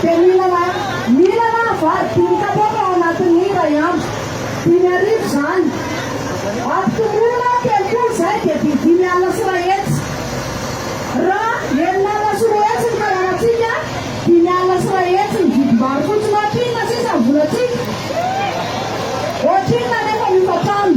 Dia mihinana mihinana aho vary dimy kapoaka ao anatin'ny iray andro. Dimy arivo izany. Ampitomboina aho telopolo izay dia didy dimy alina sy iray hetsy. Raha enina alina sy roa hetsy ny fanarantsika, dimy alina sy iray hetsy ny vidim-bary fotsiny. Ohatrinona sisa ny volantsika? Ohatrinona anefa ny hofantrano?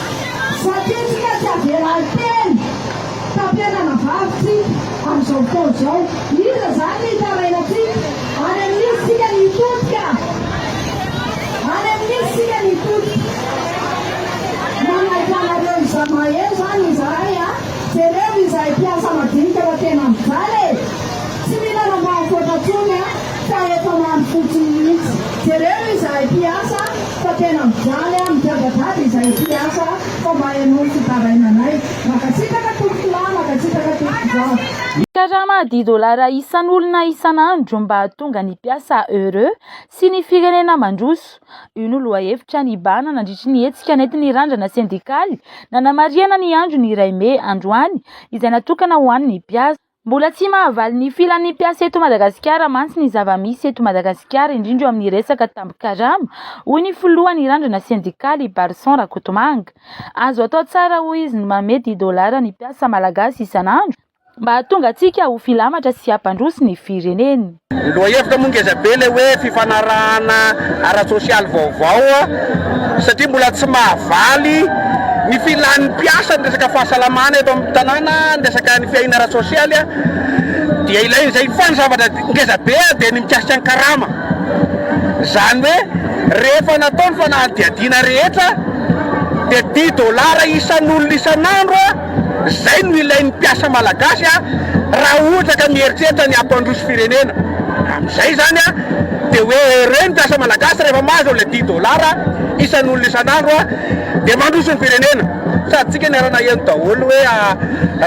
Zakentsika tsy averary teny tampenana vavintsika amin'izao fotoana izao. Iza izany no hitaraina antsika? Any amin'iza isika no hitodika? Any amin'iza isika no hitodika? Manaiky anareo izaho maheno izany izahay a! Jereo izahay mpiasa madinika fa tena mijaly e! Tsy mila rambam-poatra intsony a! Fa efa maro fotsiny mihitsy. Jereo izahay mpiasa fa tena mijaly a, migadagada izahay mpiasa fa mba henoy fitarainanay. Mankasitraka tompokolahy, mankasitraka tompokivavy. Karama dix dollars isan'olona isan'andro mba hahatonga ny mpiasa heureux sy ny firenena mandroso. Io no lohahevitra nibahana nandritry ny hetsika nentin'ny Randrana sendikaly nanamarihana ny andron'ny iray mey androany izay natokana ho an'ny mpiasa. Mbola tsy mahavaly ny filan'ny mpiasa eto Madagasikara mantsy ny zava-misy eto Madagasikara, indrindra eo amin'ny resaka tambin-karama, hoy ny filohan'ny Randrana sendikaly, Barson Rakotomanga. Azo atao tsara, hoy izy, ny manome dimy dolara ny mpiasa malagasy isan'andro mba hahatonga antsika ho filamatra sy hampandroso ny firenena. Lohahevitra moa ngeza be ilay hoe fifanarahana ara-tsosialy vaovao satria mbola tsy mahavaly ny filan'ny mpiasa ny resaka fahasalamana eto amin'ny tanàna, ny resaka ny fiahiana ara-tsosialy dia ilaina izay fa ny zavatra ngeza be dia ny mikasika ny karama izany hoe rehefa natao ny fanadihadiana rehetra dia dimy dolara isan'olona isan'andro. Izay no ilain'ny mpiasa malagasy raha ohatra ka mieritreritra ny hampandroso firenena. Amin'izay izany dia hoe ireo ny mpiasa malagasy rehefa mahazo an'ilay dix dollars isan'olona isan'andro dia mandroso ny firenena. Sady tsika niara-naheno daholo hoe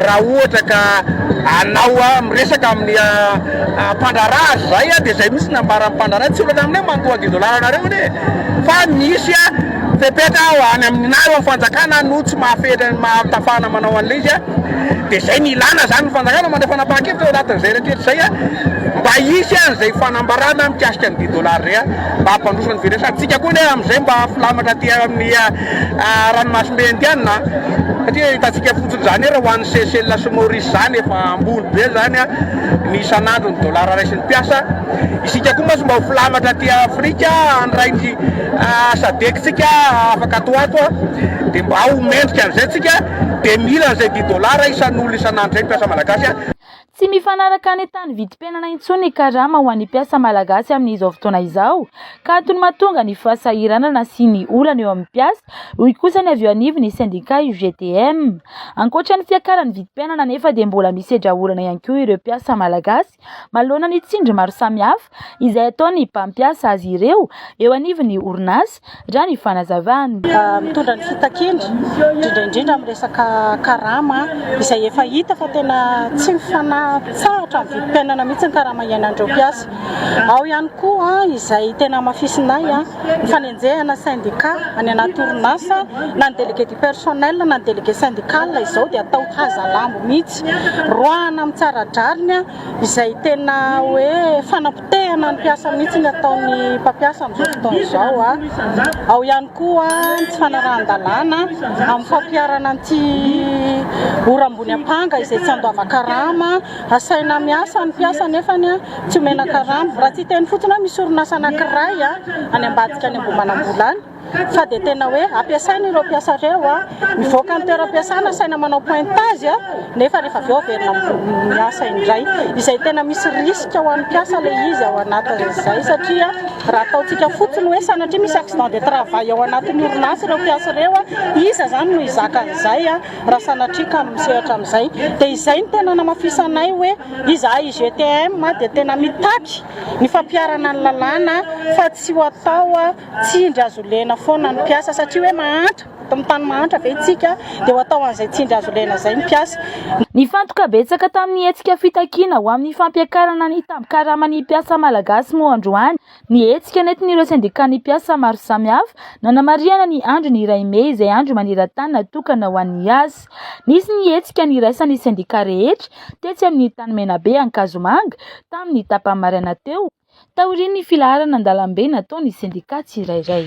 raha ohatra ka anao miresaka amin'ny mpandraharaha azy izay dia izay mihitsy no nambaran'ny mpandraharaha, tsy olana aminay mandoa dix dollars anareo anie e! Fa misy. Fepetra ho any amin'ny nahy eo amin'ny fanjakana no tsy mahafehitra ny maha tafana manao an'ilay izy dia izay no ilana izany ny fanjakana mandray fanapahan-kevitra eo anatin'izay rehetra izay mba hisy an'izay fanambarana mikasika ny dix dollars izay mba hampandroso ny firenena sady tsika koa anie amin'izay mba filamatra aty amin'ny ranomasimbe indiana satria hitantsika fotsiny izany ary ho an'ny Seychelles sy Maurice izany efa ambony be izany ny isan'andro ny dollars raisin'ny mpiasa isika koa mantsy mba ho filamatra aty Afrika handray ny Sadc-tsika afaka ato ho ato a, dia mba ho mendrika an'izay tsika, dia mila an'izay dix dollars isan'olona isan'andro izay mpiasa malagasy a. Tsy mifanaraka an'entan'ny vidim-piainana intsony ny karama ho an'ny mpiasa malagasy amin'izao fotoana izao ka antony mahatonga ny fahasahiranana sy ny olana eo amin'ny mpiasa, hoy kosa ny avy eo anivon'ny sendika UGTM. Ankoatra ny fiakaran'ny vidim-piainana anefa dia mbola misedra olana ihany koa ireo mpiasa malagasy. azy. Manoloana ny tsindry maro samihafa izay ataon'ny mpampiasa azy ireo eo anivon'ny orinasa, raha ny fanazavany. Mitondra ny fitakiana, indrindra indrindra amin'ny resaka karama, izay efa hita fa tena tsy mifanatsahatra amin'ny vidim-piainana mihitsy ny karama iainan'ireo mpiasa. Ao ihany koa izay tena hamafisinay, ny fanenjehana sendika any anaty orinasa, na ny délégué du personnel na ny délégué syndical izao dia atao hazalambo mihitsy. Roahana amin'ny tsara drariny izay tena hoe fanapotehana ny mpiasa mihitsy ny ataon'ny mpampiasa amin'izao fotoana izao. Ao ihany koa ny tsy fanarahan-dalàna amin'ny fampiharana an'ity ora ambony ampanga izay tsy andoava karama. Asaina miasa ny mpiasa nefa tsy omena karama. Raha tsy hiteny fotsiny hoe misy orinasa anankiray any ambadika any Ambohimanambola any. fa dia tena hoe ampiasaina ireo mpiasa ireo, mivoaka ny toeram-piasana asaina manao pointage nefa rehefa avy eo averina miasa indray, izay tena misy risque ho an'ny mpiasa ilay izy ao anatin'izay satria raha ataontsika fotsiny hoe sanatria misy accident de travail ao anatin'ny orinasa ireo mpiasa ireo, iza izany no hizaka an'izay raha sanatria ka misehatra amin'izay? Dia izay no tena namafisanay hoe izahay IGTM dia tena mitaky ny fampiharana ny lalàna fa tsy ho atao. Tsindry azo lena foana ny mpiasa satria hoe mahantra, amin'ny tany mahantra ve isika dia ho atao an'izay tsindry azo lena izay ny mpiasa? Nifantoka betsaka tamin'ny hetsika fitakiana ho amin'ny fampiakarana ny tambin-karaman'ny mpiasa malagasy moa androany ny hetsika nentin'ireo sendikan'ny mpiasa maro samihafa nanamarihana ny andron'ny iray mey izay andro maneran-tany natokana ho an'ny asa. Nisy ny hetsika niraisan'ny sendika rehetra tetsy amin'ny tany Menabe Ankazomanga tamin'ny tapany maraina teo, taorian'ny filaharana an-dalambe nataon'ny sendika tsirairay.